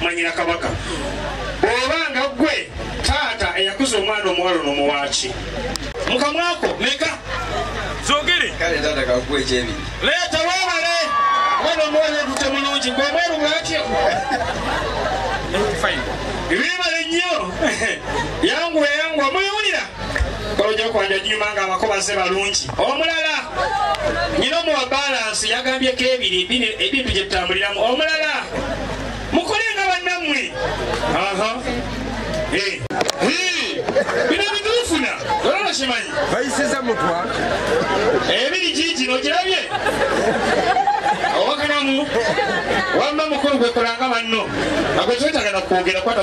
mwanyina kabaka oba nga gwe taata eyakuza omwana omuwalo nomuwaaki mukamwako meka zogere kale taata kakuwa ekyebi leeta webale omwana omuwalo edute mulungi ngomweru bwatyo bibale nnyo yanguwa yanguwa mwewulira kolojokwanja nyuma nga abako baze balungi omulala nyina omuwa balansi yagambyeko ebiri ebintu gyetutambuliramu omulala mukole nga bannammwe eh. bino bituufuna olwokimanyi bayisiza mutwa ebiri giigino ogirabye owakanamu wamma mukulu gwekolanga banno agwetwetagana kwogera kwata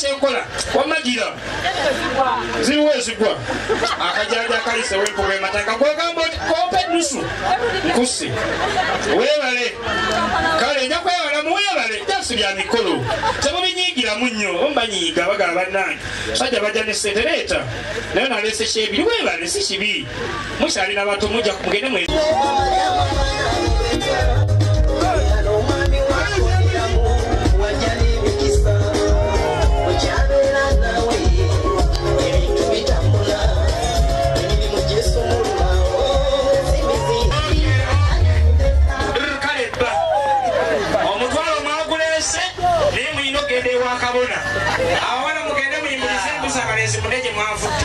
kyenkola wamagira ziriwo ezigwa akajaja akayise wempuga emataka gwegamba oti kompa enusu nkusi webale kale nja kwewala muwebale jasi bya mikolo temubinyigiramu nnyo omubanyiiga bagala bannange sajja bajja ne sente leeta naye naleese kyebiri webale si kibi mukyali na bato mujja mugende mwe kale bba omutwalo mwaguleese naye mulina okugenda ewa kabona awala mugende muyimurize embuzi abalenzi mune gye mwavudde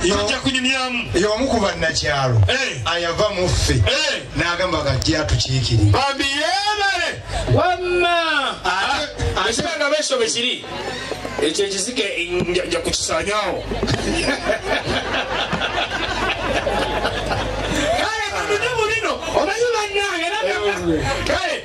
tujja kunyumyamu y'omu ku bannakyalo eh. ayava mu ffe eh. n'agamba kati atukiikiri bambi yeebale wamma ekibanga beso bwe kiri ekyo ekizike nja kukisanyawo kale kamujumu bino omanyi bannange kale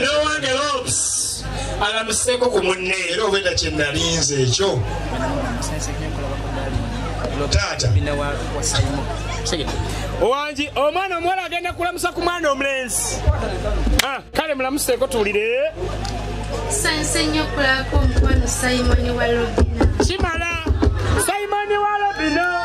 nowange lobs alamuseko ku munne era obweda kyenalinze ekyo taata owangi omwana omuwala agenda kulamusa ku mwana omulenzi ah, kale mulamuseeko tuwulire sanse nnyo okulabako omukwano simoni wa lobina kimala simoni wa lobina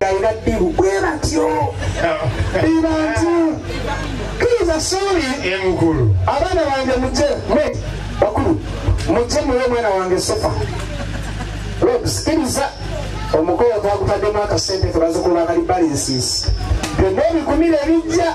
galina ddibu bwe batyo be bantu kiriza suubi abaana bange muje mwe bakulu muje muwe omwana wange sofa sikiriza omukolo twagutaddemu akasente tebazikulu bakali balinsiisi byonna ebikumira ebijja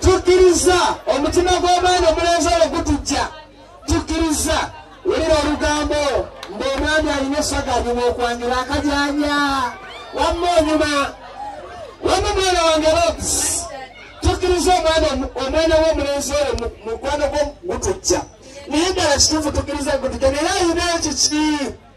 tukkiriza omutima gw'omwana omulenzi oyo gutujja tukkiriza wulira olugambo ng'omwami alina esaga anyuma okwanjula akajanya wamma onyuma wamma omwana wange lobs tukkiriza omwana omwana w'omulenzi oyo mukwano gwo gutujja naye ddala kituufu tukkiriza gutujja naye ayina ekiki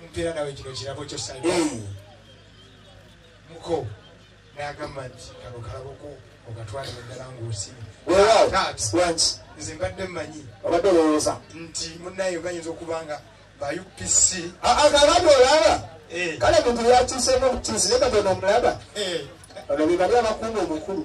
mumpeera nawe kino kirabo kyo sa muko nagamba nti kano kalaboko ogatwale muddala ngaosimu nze mbadde mmanyi obadde olowooza nti munaye ogayinza okuba nga ba upc akabadde ah, ah, olaba eh. kale muntu yakyusemu obukyusi ne katonda omulaba eh. ono bebali abakuuma omukulu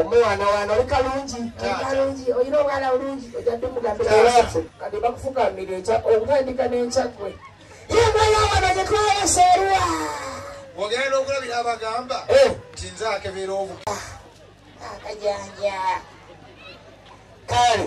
omwana wana oli kalungi kalungi olina obwana bulungi ojadumugambirawafe kati bakufukamira ekya okutandika n'ekyakwe yemweyawano gyetwayesa eruwa ogenda n'okulabira abagamba eh. nti nze akebera obu ah, akajanja kale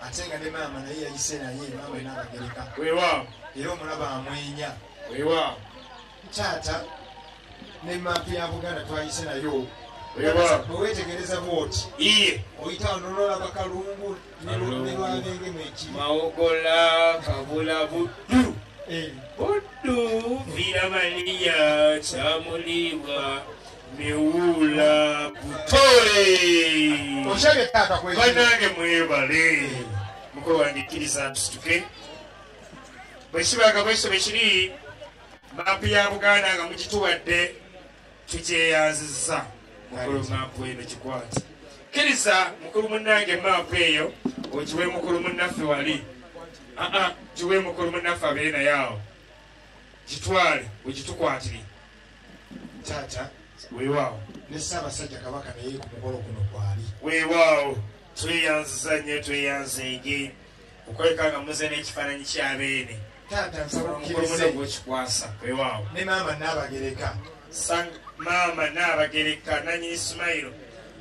ate nga ne maama naye yayise naye maama nabagereka wewaawo era omulaba amwenya wewaawo taata ne maapu ya buganda twayise nayo bwewetegereza bwoti oyitawo nololaba kalungu mawogola kabula buddu eh. buddu viramaniya kyamuliibwa miwuula butole banange mwebale mukwewandikiriza nsituke bwekibaga bwekisobe kiri maapu ya buganda nga mukituwadde tukyeyanzizza mukulu maapu eno kikwati kkiriza mukulu munnange maapu eyo okiwe mukulu munnaffe wali aa kiwe mukulu munnaffe abeere naye awo kitwale wekitukwatire taata weewaawo ne ssaabasajja kabaka naye ku mukolo guno kwali weewaawo tweyanziza nnyo tweyanzeege okulabika nga muze n'ekifaananyi kya beene taata nsaba omukulumuno gwokikwasa wewaawo ne maama naabagereka maama naabagereka nanyini sumayiro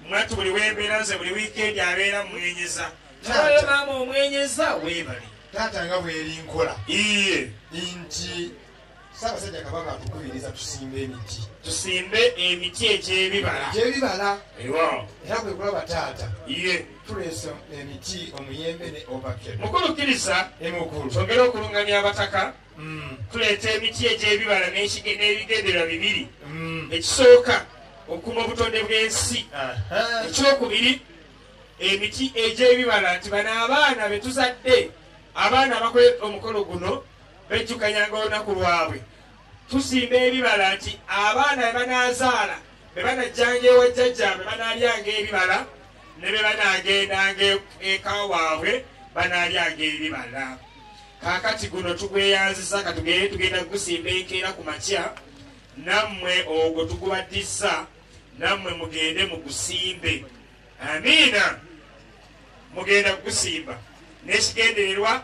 mwatu buli wembeera nze buli wiikendi abeera mwenyeza taata maama omwenyeza weebale taata nga bweri nkola iye nti Ssaabasajja Kabaka atukubiriza tusimbe emiti. Tusimbe emiti egy'ebibala. Egy'ebibala. Ewa. Era kwe kulaba taata. Iye. Tuleese emiti omuyembe ne ovakero. Mukulu kkiriza. Emukulu. Twongere okulungamya abataka. Mm. Tuleeta emiti egy'ebibala n'ebigendererwa bibiri. Mm. Ekisooka okukuuma obutonde bw'ensi. Ekyokubiri emiti egy'ebibala nti bano abaana be tuzadde abaana abakola omukolo guno bejjukanyanga olunaku lwabwe tusimba ebibala nti abaana bebanazaala bebanajjanga ewa jjajjabwe banalyanga ebibala ne bebanagendanga e-, eka waabwe banalyanga ebibala kakati guno tugweyanziza katugere tugenda kugusimba enkeera ku makya nammwe ogwo tugubaddiza nammwe mugende mugusimbe amiina mugenda kugusimba nekigendererwa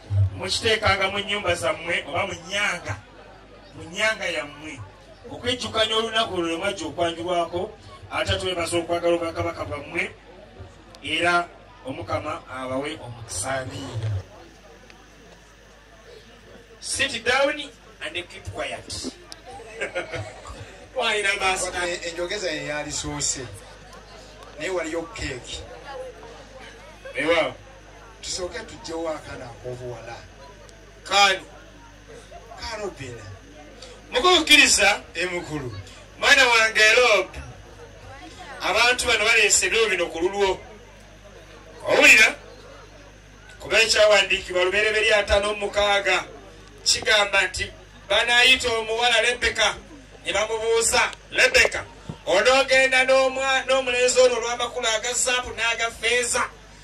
mukiteekanga mu nnyumba zammwe oba mu nyanga mu nyanga yammwe okwejjukanya olunaku olwo lwemwajja okwanjulwako ate twebaza okwagala obwakabaka bwammwe era omukama abawe omukusabiira sit down and keep quiet walina maaso enjogeza ye yalisoose naye waliyo keeki ewa tusooke tujjewo akana akobuwala kaali karobina mukukkiriza emukulu mwana wange erob abantu bano baleese ebiro bino ku lulwo owulira kuba ekyawandiikibwa lubereberye atano mumukaaga kigamba nti banayita omuwala lebeka ne bamubuuza lebeka onoogenda n'omulenzi ono olw'amakulu agazaabu n'agafeeza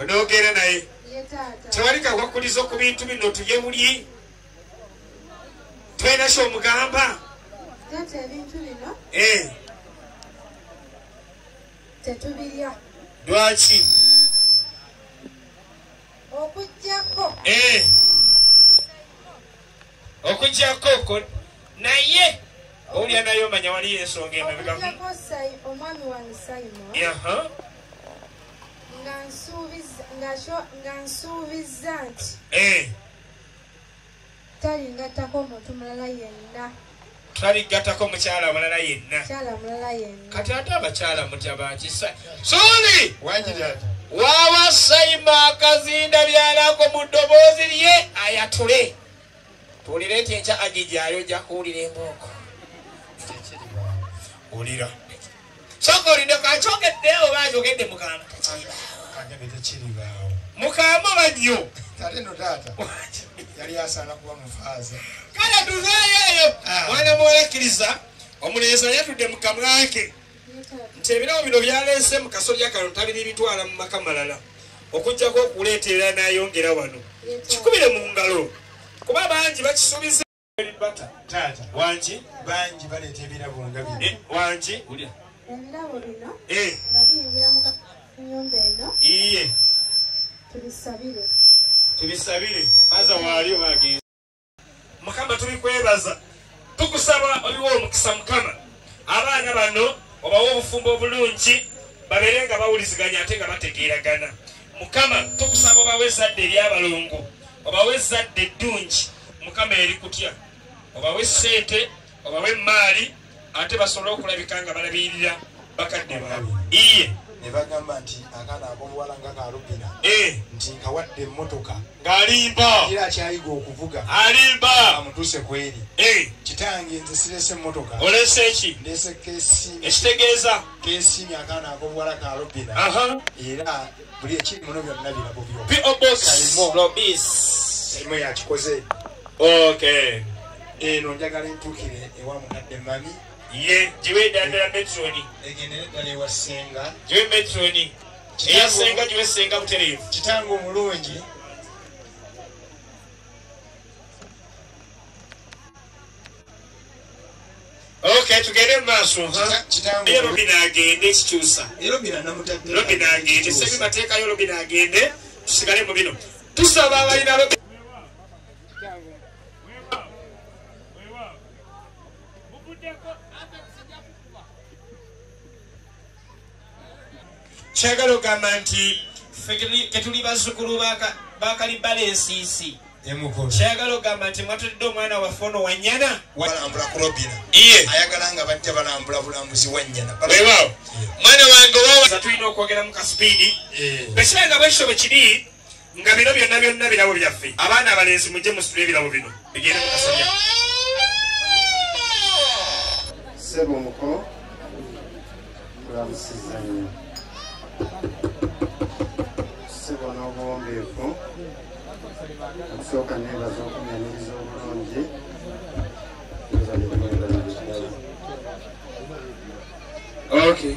onoogera naye tewali kakwakulizo ku bintu bino tulye bulyi twena kyomugamba eh. tetubirya lwaki okujjako eh. okujjako oko naye owulira naye omanya waliyo ensonga emabegakujjako sai omwami wange saimo nga nsuubizza nti eh. talingattako omuntu mulala yenna tutabigatako mukyala mulala yenna kati ate abakyala mutya bakisa suli wawa saima akazinda byalako mu ddoboozi lye ayatule tuwulire nti enkya agijyayo jakuwulira embooko wulira soka olindeko akyogedde oba ayogedde mugamba tekiribaawo mukamba oba nnyo ate no taata yali asaana kuba mufaaza kale tuveeyo eyo ah. mwana muwala akkiriza omulenzi ayatudde mu kamwake nti ebirabo bino byaleese mu kasolya kano tabiri bitwala mu maka malala okujjako okuleeteera n'ayongera wano kikubire mu ngalo kuba bangi bakisuubiza wangi bangi baleeta ebirabo nga bino eh, wangi ulya ebirabo bino eh. nga biyingira mu nyumba eno iye tubisabire tubisabire faza waali obagenzi mukama tubikwebaza tukusaba obiwa omukisa mukama abaana bano obawa obufumbo obulungi babeere nga bawuliziganya ate nga bategeeragana mukama tukusaba obawa ezadde eryabalongo obawa ezadde eddungi mukama eri kutya obawa esente obawa emaali ate basobole okulabika nga balabirira bakadde baabe iye nebagamba nti akaana akomuwala nga kalubina eh. nti nkawadde emotoka ng'alimba kira akyayiga okuvuga alimba amutuse kweri eh. kitange nze sirese emmotoka olese ki ndese kesi ekitegeeza kesi myakaana akobuwala ka robina era buli ekiri muno byonna birabo byokalimo yakikoze ok eno njagala entukire ewa mukadde mami ye giwe eddala ddala metroni egendere ddala ewa senga giwe metroni eya senga giwe senga butereevu kitange omulungi Okay, tugende maaso naye robina agende ekikyusa robina agende sebi mateekayo robina agende tusigale mu bino tusaba abalina robina kyagala ogamba nti ketuli bazukulu bakalibala ensiisi kyagala ogamba nti mwatudde omwana waffe ono wanyana balambula kulobina ayagala nga bajja balambula bulambuzi wanyana mwana wange tulina okwogeramu kasipiidi bwekiba nga bwekito bwekiri nga bino byonna byonna birabo byaffe abaana abalenzi mujje musitule ebirabo bino bigende mukasabya sebo muko kulamusiza nnyo sebo n'obuwombeefu okusooka neebaza okunyaniriza obulungi Okay.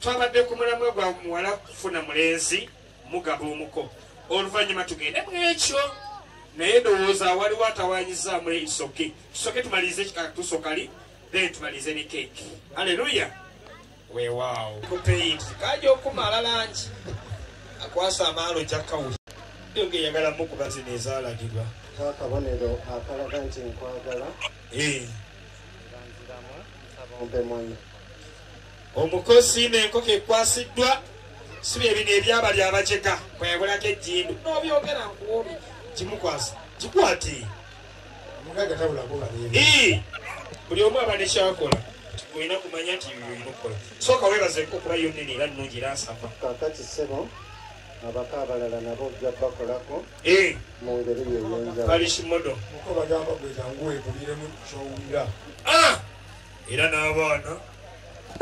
Twabadde ku mulamwa gwa muwala kufuna mulenzi mugaba omuko oluvannyuma tugende mu ekyo naye ndowooza waliwo atawanyizaamu isoke tusoke tumalirize ekikakatuso kali then tumalirize ne keeki aleluya weewaawo kupeyit kaja okumala langi akwasa amaalo jakawuli nga eyagala mukuba zino ezalagirwa akabonero akalaga nti nkwagala eh. nziramu nsaba ompe mwana Omuko siima enkoko ekwasiddwa si bye bino ebyabali abajega kweyagulako ejjindu n'obyogera nkuwobi kimukwasa kikwati omugaga tabula kuba buli omu aba nekyakola olina kumanya nti olina okukola sooka weebaza enkoko kuba yo nene era nnungi era nsava kakati ssebo abako abalala nabo ojja bakolako eh. mu ngeri yeyenjawulo kali kimodo muko bagamba gwejangu wekubiremu kyowulira ah! era n'abaana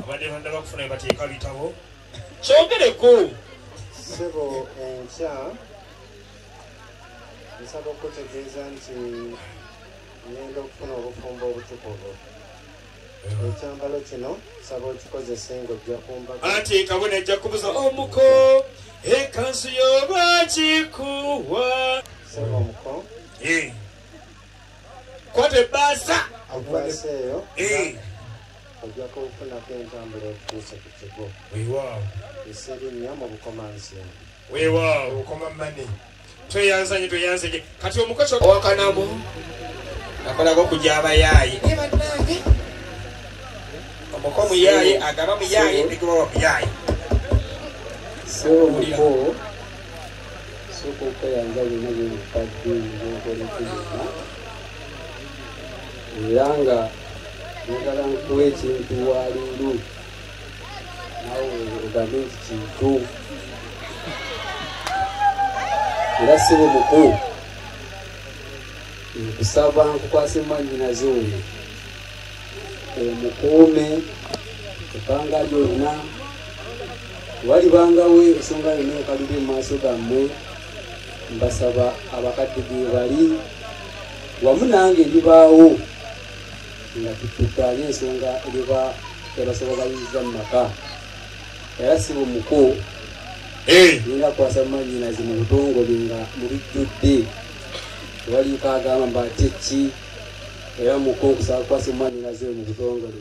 abadde banda bakufuna bye bateeka bitabo kyogereko sebo enkya nsaba okutegeeza nti ngenda okufuna obufumbo obutukuvu ekyambalo kino nsaba okikozese ng'ojja kumbaga anti ekabo najja kubuza omuko ekansu yo bakikuwa sebo omuko kwata ebbaasa ebbaasa eyo eh. ojjako ofunako entambula etutuuse ku kigo wewaawo eseri nnyo mu bukomansi wewaawo obukoma mane tweyanzanye tweyanzanye kati omukozi owakanamu akolako okuja abayaaye ebanange omuko muyaaye agaba muyaaye negebawa muyaaye sooka okweyanza byonna byemukadde nkolekezeka era nga njagala nkuwa ekintu waliiru nawe ogambe nti kintu era si bumuku nkusaba nkukwasa emwanyinaze oyo omukuume ebbanga lyonna walibangawo ensonga yonna enkalire mu maaso gammwe mbasaba abakadde ge bali wamu nange ndibaawo nga tutukanye ensonga eriba ebasoba bayinza mu maka era si bumuko eh. nina kwasa mumanyinazi mu butongole nga mubijjudde waliiko agamba mbatekki era muko nkusaba kwasa mumanyinazi oyo mu butongole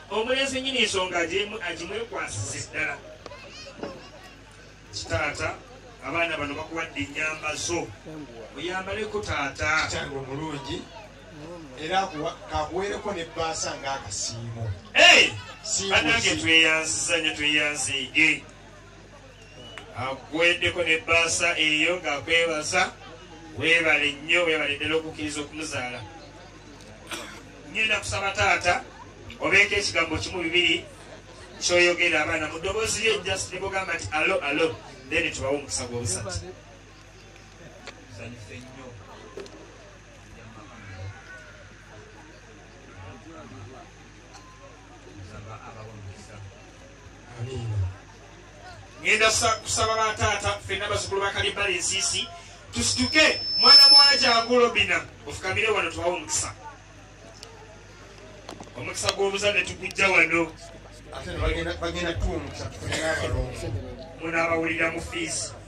Omulenzi nnyini ensonga agimwekwasize ddala. Kitaata abaana bano bakuwadde ennyamba zo oyambaleko taata kitange omulungi era kakuweereko ne bbaasa ng'akasiimo banange tweyanziza nyo tweyanziige akuweddeko ne bbaasa eyo ng'akwebaza weebale nnyo weebale ddala okukkiriza okumuzaala ngenda kusaba taata obeeko ekigambo kimu bibiri kyoyogera abaana mu ddoboozi lye just libugamba nti alo alo then tubawo omukisa gw'obusatu ngenda kusaba bataata fenna bazukulu bakalibbala ensiisi tusituke mwana muwala gyagulobina ofukamire wano tuwawo omukisa omukisa gw'obuzadde tugujja wano ate bagenda tuwa omukisa tufunire abalongo munaabawulira mu fiisi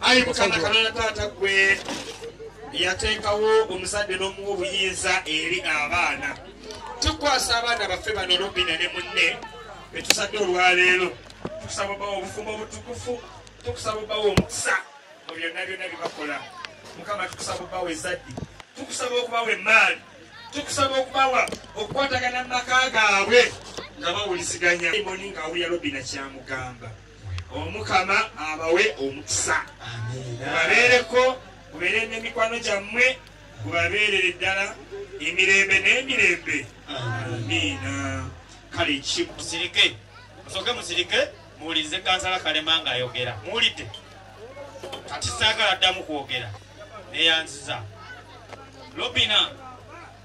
ayi mukama katonda taata gwe yateekawo omuzadde n'omuwa obuyinza eri abaana tukwasa abaana baffe bano robina ne munne betusadde olwaleero tukusaba obawa obufumbo obutukufu tukusaba obawa omukisa mu byonna byonna byebakola mukama tukusaba obawa ezaddi tukusaba okubawa emaali tukusaba okubawa okukwatagana mu maka gaabwe nga bawuliziganya moni ngaawulira robina kyamugamba omukama abawe omukisa gubabeereko gubeere nemikwano gyammwe gubabeerere ddala emirembe n'emirembe amiina kale kimusirike musoke musirike muwulirize kansala kalema nga ayogera muwulidde kati saagala ddamu kwogera neyanziza lobina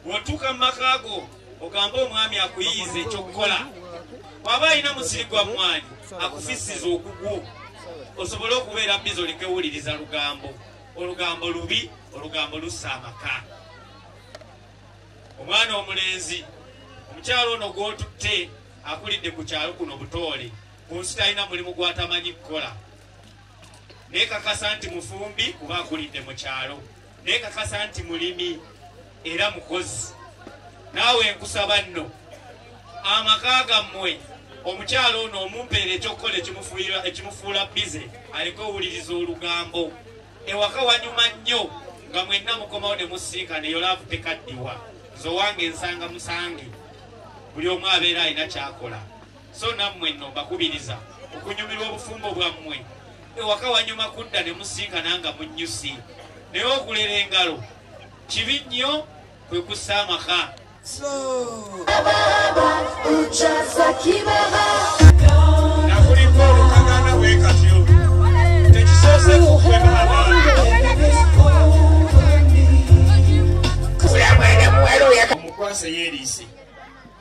Bw'otuuka mu maka go ogambe omwami akuyiyiza ekyokukola. Bw'aba alina musiri gwa mmwaanyi akufissiza ogugwo osobole okubeera bizi olekewuliriza lugambo. Olugambo lubi, olugambo lussa amaka. Omwana omulenzi, omukyalo ono gw'otutte akulidde ku kyalo kuno butoole ku nsi talina mulimu gw'atamanyi kukola. nekakasa nti mufumbi kuba akulidde mu kyalo nekakasa nti mulimi era mukozi naawe nkusaba nno amaka gammwe omukyalo ono omumpeera ekyokukola ekimufuula bize aliko owuliriza olugambo ewaka wanyuma nnyo nga mwenna mukomawo ne musiika neyo laavu tekaddiwa nze owange nsanga musange buli omu abeera alina kyakola so nammwe nno mbakubiriza okunyumirwa obufumbo bwammwe ewaka wanyuma kudda ne musinkana nga munnyusi naye okulera engalo kibi nnyo kwe kussa amaka omukwase yeeriise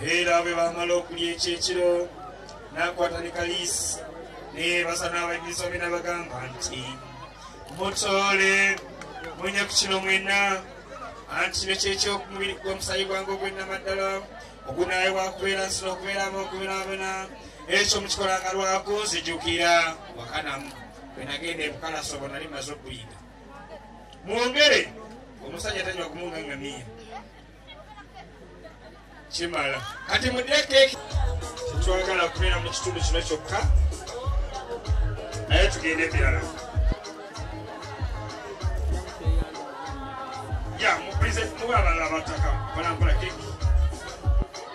era bwe bamala okulya ekyekiro n'akwata ne kaliisi naye basa n'abajulizi obe n'abagamba nti mutoole munya ku kino mwena anti kino kyekyokumubiri gwa omusayi gwange ogwennamaddala ogunaayibwa kubeera nsina okubeeramu okubeerabena ekyo mukikola nga lwakunzijukira wakanamu bwe nagenda ebukalaso bwe nali maze okuyiga mwongere omusajja tanywa kumuungangamiya kimala kati mudeke tetwagala kubeera mu kitundu kino kyokka naye tugende ebirala ya mupresent muba abalala bataka balampala keki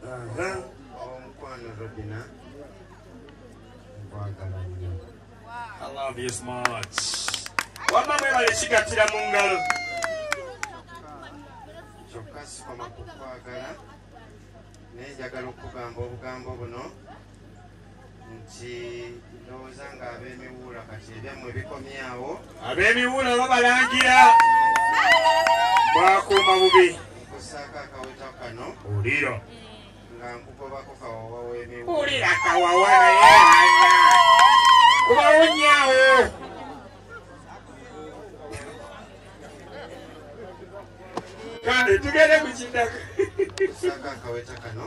omukwano robina nkwagala nnyo wamma mwebale kigattira mu ngalo kyokka sikoma kukwagala naye njagala okugamba obugambo buno nti ndowooza nga abemiwuula kati ebyammwe bikomyawo abemiwuula babalangira bwakuuma bubi nkusaako akaweta kano ulira nga nkugobako kawawa wemiwuula ulira kawawa naye anya kubawunyawo kale tugende ku kiddako nkusaako akaweta kano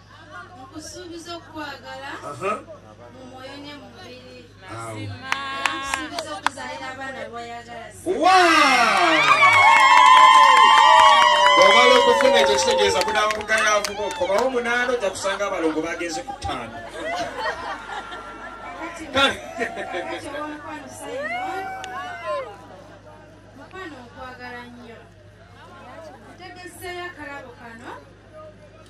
nkusuubiza okukwagala mu mwoyo ne mu mubiri nkusuubiza okuzaalira abaana bwayagala obala okufuna ekyo kitegeeza kunaba mugayaavuba okomawo munaana ojja kusanga abalongo bagenze ku ttaano mukwano okwagala nnyo ntegeseeyo akalabo kano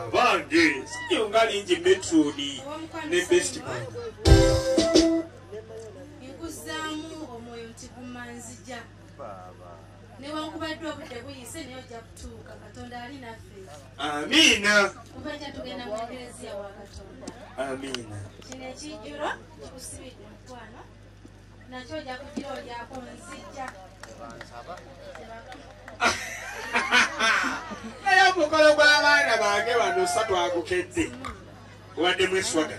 abange sinyo nga lingi metroni ne bestman nkuzaamu omwoyo nti gumanzija newankubadde obudde buyise naye ojja kutuuka katonda ali naffe amiina kubaja tugenda mu ekereziya wa katonda amiina kino ekijjuro kikusibidde mukwano nakyo ojja kugira olyako nzijja naye omukolo gw'abaana bange bano sa twagukedde obadde mweswaga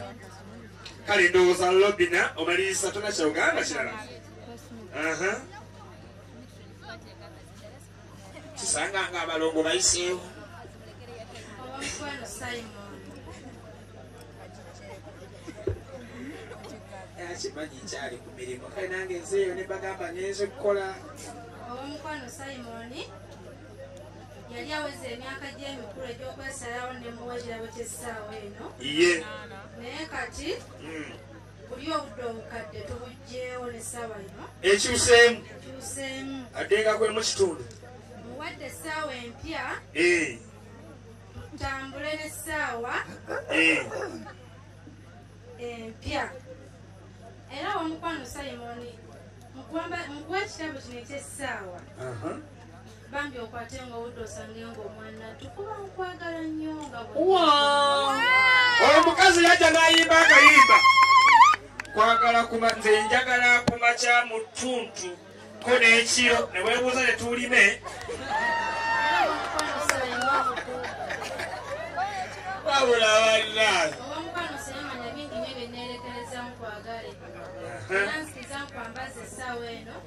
kale ndowooza lobina omaliriza tona kyauganda kirala kisanga nga abalongo bayiseewo akimanyi nkyali ku mirimu kale nange nzeeyo ne bagamba nenze okukola owomukwano simoni yali aweza emyaka gy'emikulu egy'okwesalawo ne muwa ekirabo ky'essaawa eno ye naye kati hmm. ekyuseemu adenga kwe mu kitundu muwadde essaawa empya eh. tutambule n'essaawa eh. empya era wamukwano simoni mukuwa ekitabo kino ekyessaawa Bambi okwate nga owudde osange nga omwanatu kuba nkwagala nnyo nga omukazi yajja n'ayimba akayimba kwagala kuba nze njagala kuma kya mu ttuntu ko n'ekiro ne weebuuza ne tuulime wabula bannaayo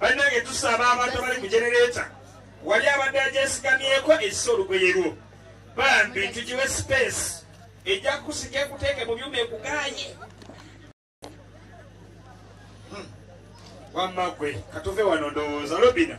bannange tusaba abantu abali ku genereeta wali abadde agyesigamyeko ekisa olugoye lwo bambi tugiwe space ejja kusika ekuteeke mu byuma ekuganye wamma gwe katuve wano ndowooza lobina